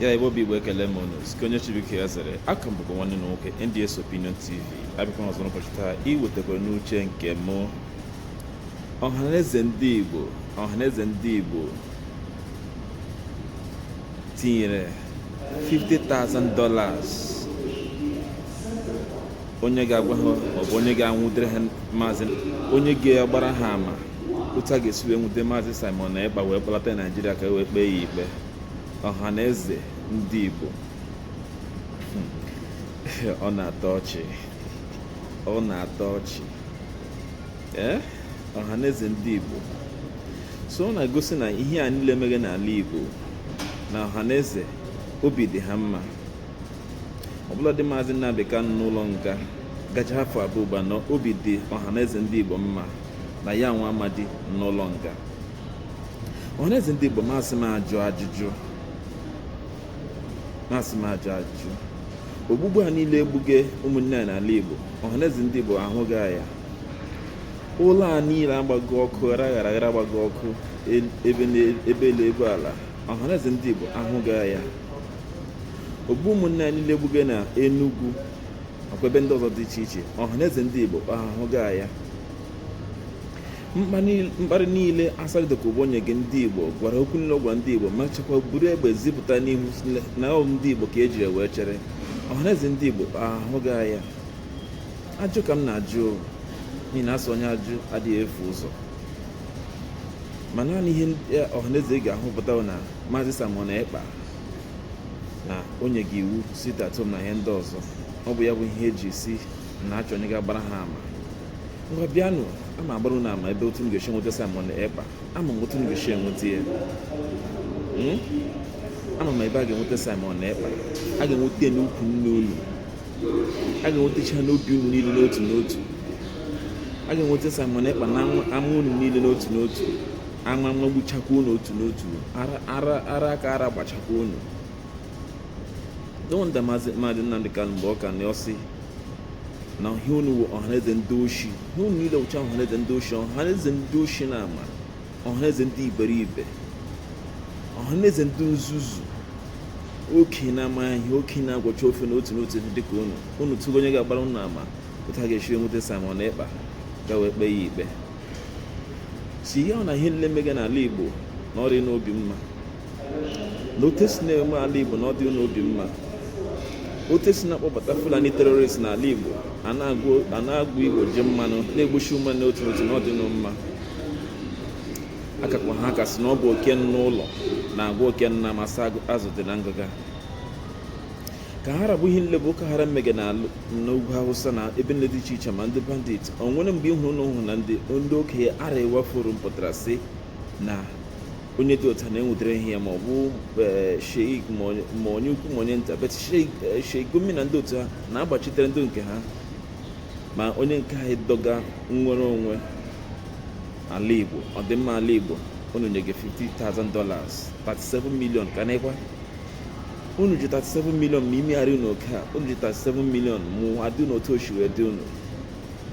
ya ebe obi igbo ekele m unu sike onye chibike ya zere a ka m bụkwa nwanne unu nwoke NDS Opinion TV abịakwa ọzọ n'ụbọchị taa iwetekwara unu uche nke m ọhaneze ndị igbo ọhaneze ndị igbo tinyere $50,000 onye ga-agwa ha maọbụ onye ga-anwụdere ha maazị onye ga-agbara ha ama otu a ga-esi wee nwude maazị Simon Ekpa wee kpọlata Naijiria ka e wee kpee ya ikpe ọhaneze ndị Igbo hmm. ọ na-atọ ọchị ọ na-atọ ọchị ee eh? ọhaneze ndị Igbo so ọ na-egosi na ihe a niile mere n'ala Igbo na ọhaneze obi dị ha mma ọbụladị maazị Nnamdi Kanu nọ n'ụlọ nga gacha afọ abụọ ugbu a na obi dị ọhaneze ndị Igbo mma na ya nwa amadi n'ụlọ nga ọhaneze ndị Igbo m asị m ajụ ajụjụ ogbugbu a niile e gbuge ụmụnne anyị n'ala Igbo ọhaneze ndị Igbo ahụghị ya ụlọ a niile agbago ọkụ ghara ghara ghara agbago ọkụ ebe elu ebe ala ọhaneze ndị Igbo ahụghị ya ogbu ụmụnne anyị niile e gbuge na Enugu nakwa ebe ndị ọzọ dị iche iche ọhaneze ndị Igbo ọ ha ahụghị ya mkparị niile Asari Dokubo nyege ndị Igbo gwara okwu niile ọ gwara ndị Igbo mechakwa buru egbe zipụta n'ihu na ọ ndị Igbo ka ejiri wee chere ọhaneze ndị Igbo ọ ha ahụghị ya ajụ ka m na-ajụ n'ihi na a sị onye ajụ adịghị efu ụzọ ma naanị ihe ọhaneze ga-ahụpụta na Maazị Simon Ekpa na o nyege iwu sit at home na ihe ndị ọzọ ọ bụ ya bụ ihe e ji sị na a chọ onye ga-agbara ha ama ngwa bịanụ ama agbara unu ama ebe otu unu ga-esi enweta Simon Ekpa ama m otu unu ga-esi enweta ya hmm? ama m ebe a ga-enweta Simon Ekpa a ga-enweta ya n'ukwu nne unu a ga-enwetacha ya n'obi unu niile n'otu n'otu a ga-enweta Simon Ekpa n'ama unu niile n'otu n'otu ama magbuchakwa unu otu n'otu ara ka ara gbachakwa unu no wonder maazị Nnamdi Kanu mgbe ọ ka nọ ọ sị na ihe unu wụ ọhaneze ndị oshi ihe unu niile wụcha ọhaneze ndị oshi ọhaneze ndị oshi na ama ọhaneze ndị iberibe ọhaneze ndị nzuzu okenye amaghị ihe okenye agwọcha ofe n'otu n'otu dịka unu unu tụgo onye ga-agbara unu ama otu a ga-esi enweta Simon Ekpa ka e wee kpee ya ikpe si ihe ọ na ihe nile mega n'ala Igbo na ọ dị n'obi mma na otu esi na-eme ala Igbo na ọ dị n'obi mma otu esi na-akpọbata Fulani terrorist n'ala Igbo a na-agwọ Igbo ji mmanụ na-egbuchi ume n'otu n'otu na ọ dị unu mma akakwa ha ka sị na ọ bụ oke nọ n'ụlọ na-agwa oke nọ n'ama sị azụ dị na ngịga ka ha ra bụ ihe nile bụ ọgbaghara mege n'ugwu hausa na ebe nile dị iche iche ma ndị bandit o nwere mgbe ị hụrụ unu hụ na ndị ndị okenye arewa forum pụtara sị na onye dị otu a na-enwetara ihe ya ma ọ bụ sheik ma onye ukwu ma onye nta but sheik gumi na ndị otu ha na-agbachitere ndị nke ha ma onye nke anyị dọga nnwere onwe ala igbo ọdịmma ala igbo unu nye gị 50,000 dollars 37 million ka na-ekwa unu ji 37 million ma imegharị unu oke a unu ji 37 million ma ụwa dị unu otu o shi wee dị unu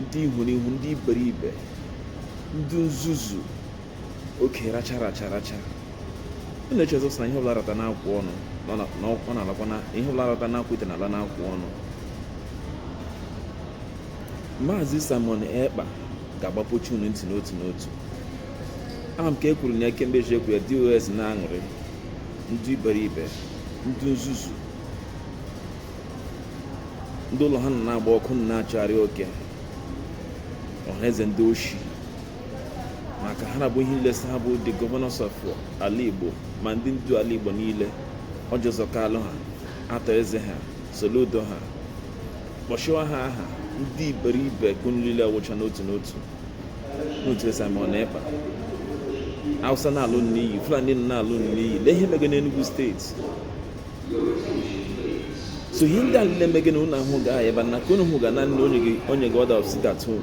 ndị ihurihu ndị iberibe ndị nzuzu oke racha racha racha unu echezọ sị na ihe ọbụla rata n'akụkụ ọnụ na ọ na- na ọ na-alakwa na ihe ọbụla rata n'akụkụ ite na-ala n'akụkụ ọnụ maazị simon ekpa ga-agbapuchi unu ntị n'otu n'otu ama m ka e kwuru na ya kemgbe eji ekwu ya dos na-aṅụrị ndị iberibe ndị nzuzu ndị ụlọ ha nọ na-agba ọkụ nọ na-achọgharị oke ọhaneze ndị oshi ma ka ha ra bụ ihe nile sị ha bụ the governors of ala igbo ma ndị ndu ala igbo niile orji uzor kalu ha arthur eze ha soludo ha kpọshịwa ha aha ndị iberibe ka unu niile anwụcha n'otu n'otu n'otu Simon Ekpa Hausa na-ala unu n'iyi Fulani na-ala unu n'iyi lee ihe mege n'Enugu steeti so ihe ndị a niile mege na unu ahụ ga ebe na ka unu hụ ga naanị onye gị order of sit at home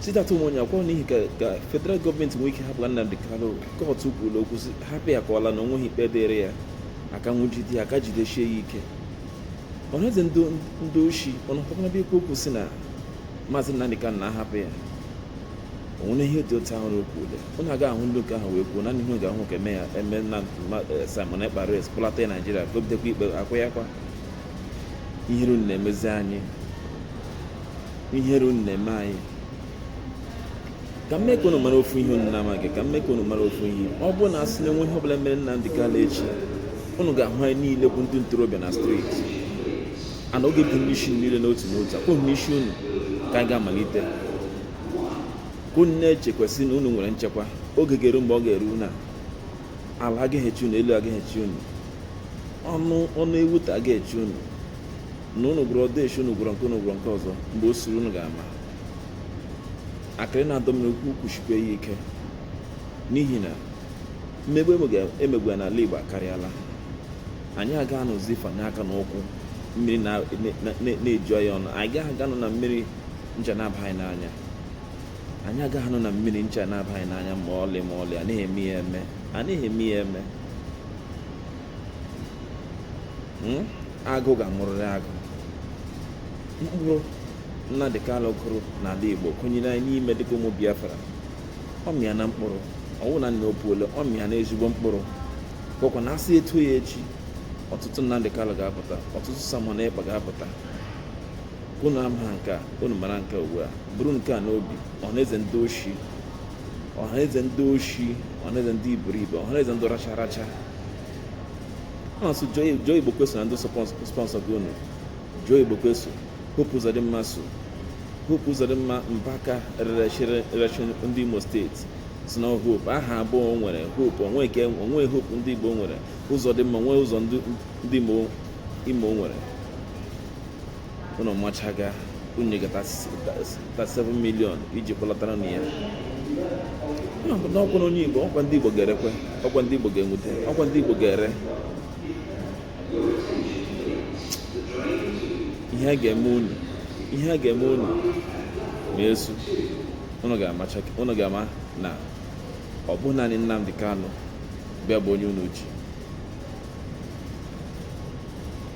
sit at home onye apụkwa n'ihi ka federal gọọmenti nwee ike hapụ Nnamdi Kanu kọtụ kwuru okwu hapụ ya ka ọ laa na o nweghị ikpe dịrị ya a ka nwụjide ya a ka jidesie ya ike ọhaneze ndị oshi unu pụtara ebe ikwu okwu sị na maazị Nnamdi Kanu na a hapụ ya o nwere ihe dị otu ahụ n'okwu ule unu aga ahụ ndị nke ahụ wee kwuo na anyị ga-ahụ ka eme ya eme na eh, Simon Ekpa arrest kpọlata ya Naijiria ka o bidokwa ikpe akwụ ya kwa ihere unu na-emezi anyị ihere unu na-eme anyị ka m mee ka unu mara ofu ihe unu na-amaghị ka m mee ka unu mara ofu ihe ọ bụrụ na a sị na e nwee ihe ọbụla mere Nnamdi Kanu echi unu ga-ahụ anyị niile bụ ndị ntorobịa na streeti and ọ ga-abụ n'isi unu niile n'otu n'otu ọkwa n'isi unu ka anyị ga-amalite ka unu na-echekwa sị na unu nwere nchekwa oge ga-eru mgbe ọ ga-eru na ala agaghị echi unu elu agaghị echi unu ọnụ ọnụ ewu ta agaghị echi unu na unu gwọrọ odeshi unu gwọrọ nke unu gwọrọ nke ọzọ mgbe o suru unu ga-ama akịrị na-adọ mmiri okwu kwushikwa ya ike n'ihi na mmegbu emegbu ya n'ala Igbo akarịala anyị aga anọzi fanye aka n'ụkwụ mmiri na-eju anyị ọnụ anyị agaghị anọ na mmiri ncha na-abagha anyị n'anya anyị agaghị anọ na mmiri ncha na-abagha anyị n'anya ma ọlị ma ọlị anaghị anaghị eme ya eme hmm? agụ ga-amụrịrị agụ mkpụrụ Nnamdi Kanu kụrụ n'ala Igbo kụnyere anyị n'ime dịka ụmụ Biafra ọ mịana mkpụrụ ọ wụghị naanị o puole ọ mịana ezigbo mkpụrụ ọkwa na a sị etu ya echi ọtụtụ Nnamdi Kanu ga-apụta ọtụtụ Simon Ekpa ga-apụta unu ama nke a unu mara nke a ugbu a buru nke a n'obi ọhaneze ndị oshi ọhaneze ndị oshi ọhaneze ndị iberibe ọhaneze ndị racha racha ọ sị Joe Igbokwe so na ndị sponsọ gị unu Joe Igbokwe so Hope Uzodimma so Hope Uzodimma Mbaka rerechiri rechi ndị Imo steeti sị na Hope aha abụọ o nwere Hope o nwe Hope ndị Igbo nwere Uzodimma nwee ụzọ ndị Imo nwere unu machaga unu nyegata 7 million iji kpọlatara unu ya na ọkwa na onye igbo ọkwa ndị igbo ga-erekwe ọkwa ndị igbo ga-enwute ọkwa ndị igbo ga-ere ihe a ga-eme unu ma esu unu ga-ama na ọ bụ naanị Nnamdi Kanu ugbu a bụ onye unu ji